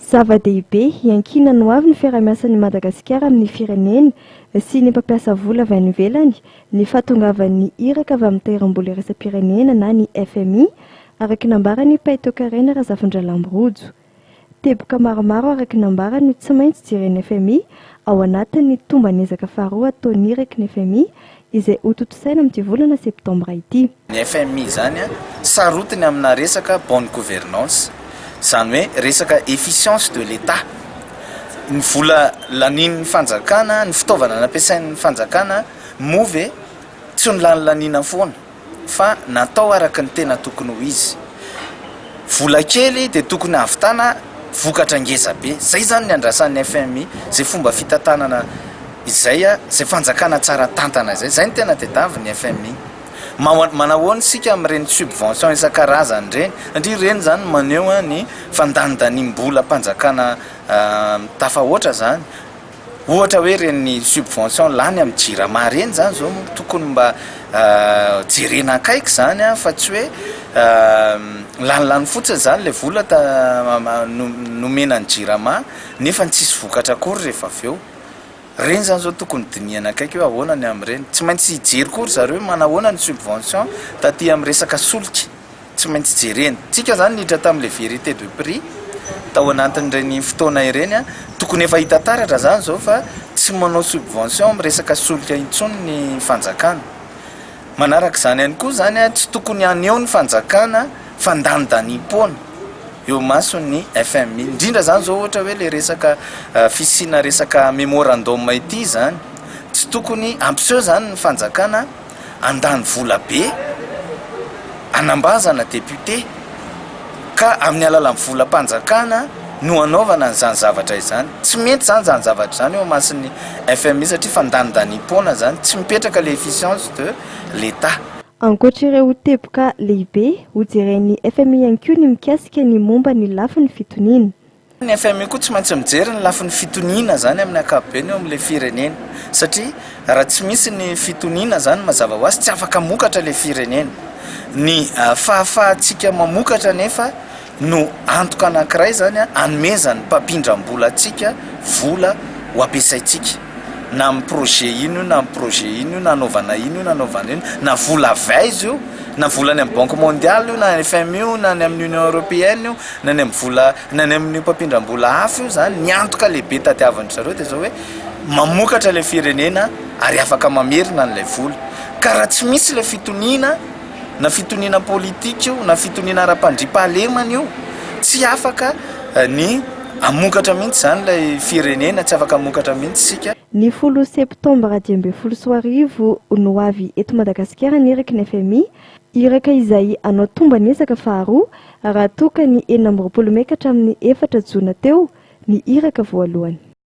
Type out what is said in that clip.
Zava-dehibe, iankinan'ny ho avy ny fiarahamiasan'i Madagasikara amin'ny firenena sy ny mpampiasa vola avy any ivelany ny fahatongavan'ny iraka avy amin'ny Tahirim-bola Iraisam-pirenena na ny fmi, araka ny nambaran'i Pay Toekarena Razafindralambo Rojo. Teboka maromaro araka ny nambarany no tsy maintsy jeren'ny fmi ao anatin'ny tomban'ezaka faharoa ataon'ny iraky ny fmi izay hotontosaina amin'ity volana septambra ity. Ny fmi izany sarotiny amina resaka bonne gouvernance, izany hoe resaka efficience de l'Etat. Ny vola lanian'ny fanjakana, ny fitaovana nampiasain'ny fanjakana moa ve tsy nolanilaniana foana? fa natao araka ny tena tokony ho izy. Vola kely dia tokony hahavitana vokatra ngeza be. Izay zany ny andrasan'ny fmi, izay fomba fitantanana izay, izay fanjakana tsara tantana izay. Izay no tena tediavin'ny fmi. Manahoana isika amin'ireny subvention isan-karazany ireny, satria ireny izany no maneho ny fandanindaniam-bolam-panjakana tafahoatra izany. Ohatra hoe ireny subvention lany amin'ny jirama ireny izany izao no tokony mba jerena akaiky izany an, fa tsy hoe lanilany fotsiny izany ilay vola nomena ny jirama nefa tsisy vokatra akory rehefa avy eo. Ireny izany izao tokony dinihana akaiky hoe ahoana ny amin'ireny. Tsy maintsy hijery koa ry zareo hoe manahoana ny subvention taty amin'ny resaka solika. Tsy maintsy jerena. Tsika zany niditra tamle vérité de prix tao anatin'ireny fotoana ireny, tokony efa hita taratra zany zao fa tsy manao subvention am resaka solika intsony ny fanjakana. Manarak'izany ihany koa zany tsy tokony haneho ny fanjakana fandanidaniam-poana eo imason'ny FMI. Indrindra zany zao ohatra hoe le resaka fisiana resaka memorandum ity zany. Tsy tokony hampiseho zany ny fanjakana. handany vola be hanambazana député ka amin'ny alalan'ny volam-panjakana no hanaovana an'izany zavatra izany. Tsy mety izany izany zavatra izany eo imason'ny FMI satria fandanindaniam-poana izany, tsy mipetraka ilay efficience de l'Etat. Ankoatra ireo teboka lehibe, hojeren'ny FMI ihany koa ny mikasika ny momba ny lafiny fitoniana. Ny fmi koa tsy maintsy mijery ny lafiny fitoniana zany amin'ny ankapobeny eo amin'ilay firenena satria raha tsy misy ny fitoniana zany mazava ho azy tsy afaka mokatra ilay firenena. Ny fahafahantsika mamokatra anefa no antoka anankiray zany anomezan'ny mpampindram-bola antsika vola ho ampiasaintsika. na amin'ny projet ino io na amin'ny projet ino io na anaovana ino io na anaovana ino na vola avy aiza io na vola any amin'ny banque mondiale io na any FMI io na any amin'ny union européenne io na any amin'ny vola na any amin'ny mpampindram-bola hafa io zany ny antoka lehibe tadiavin-dry zareo dia zao hoe mamokatra ilay firenena ary afaka mamerina an'ilay vola ka raha tsy misy ilay fitoniana na fitoniana politika io na fitoniana ara-pandriampahalemana io, tsy afaka ny hamokatra mihitsy izany ilay firenena, tsy afaka hamokatra mihitsy isika. Ny folo septambra dimy ambin'ny folo sy roa arivo no ho avy eto Madagasikara ny iraky ny fmi, iraka izay hanao tomban'ezaka faharoa raha toa ka ny enina amby roapolo mey ka hatramin'ny efatra jona teo ny iraka voalohany.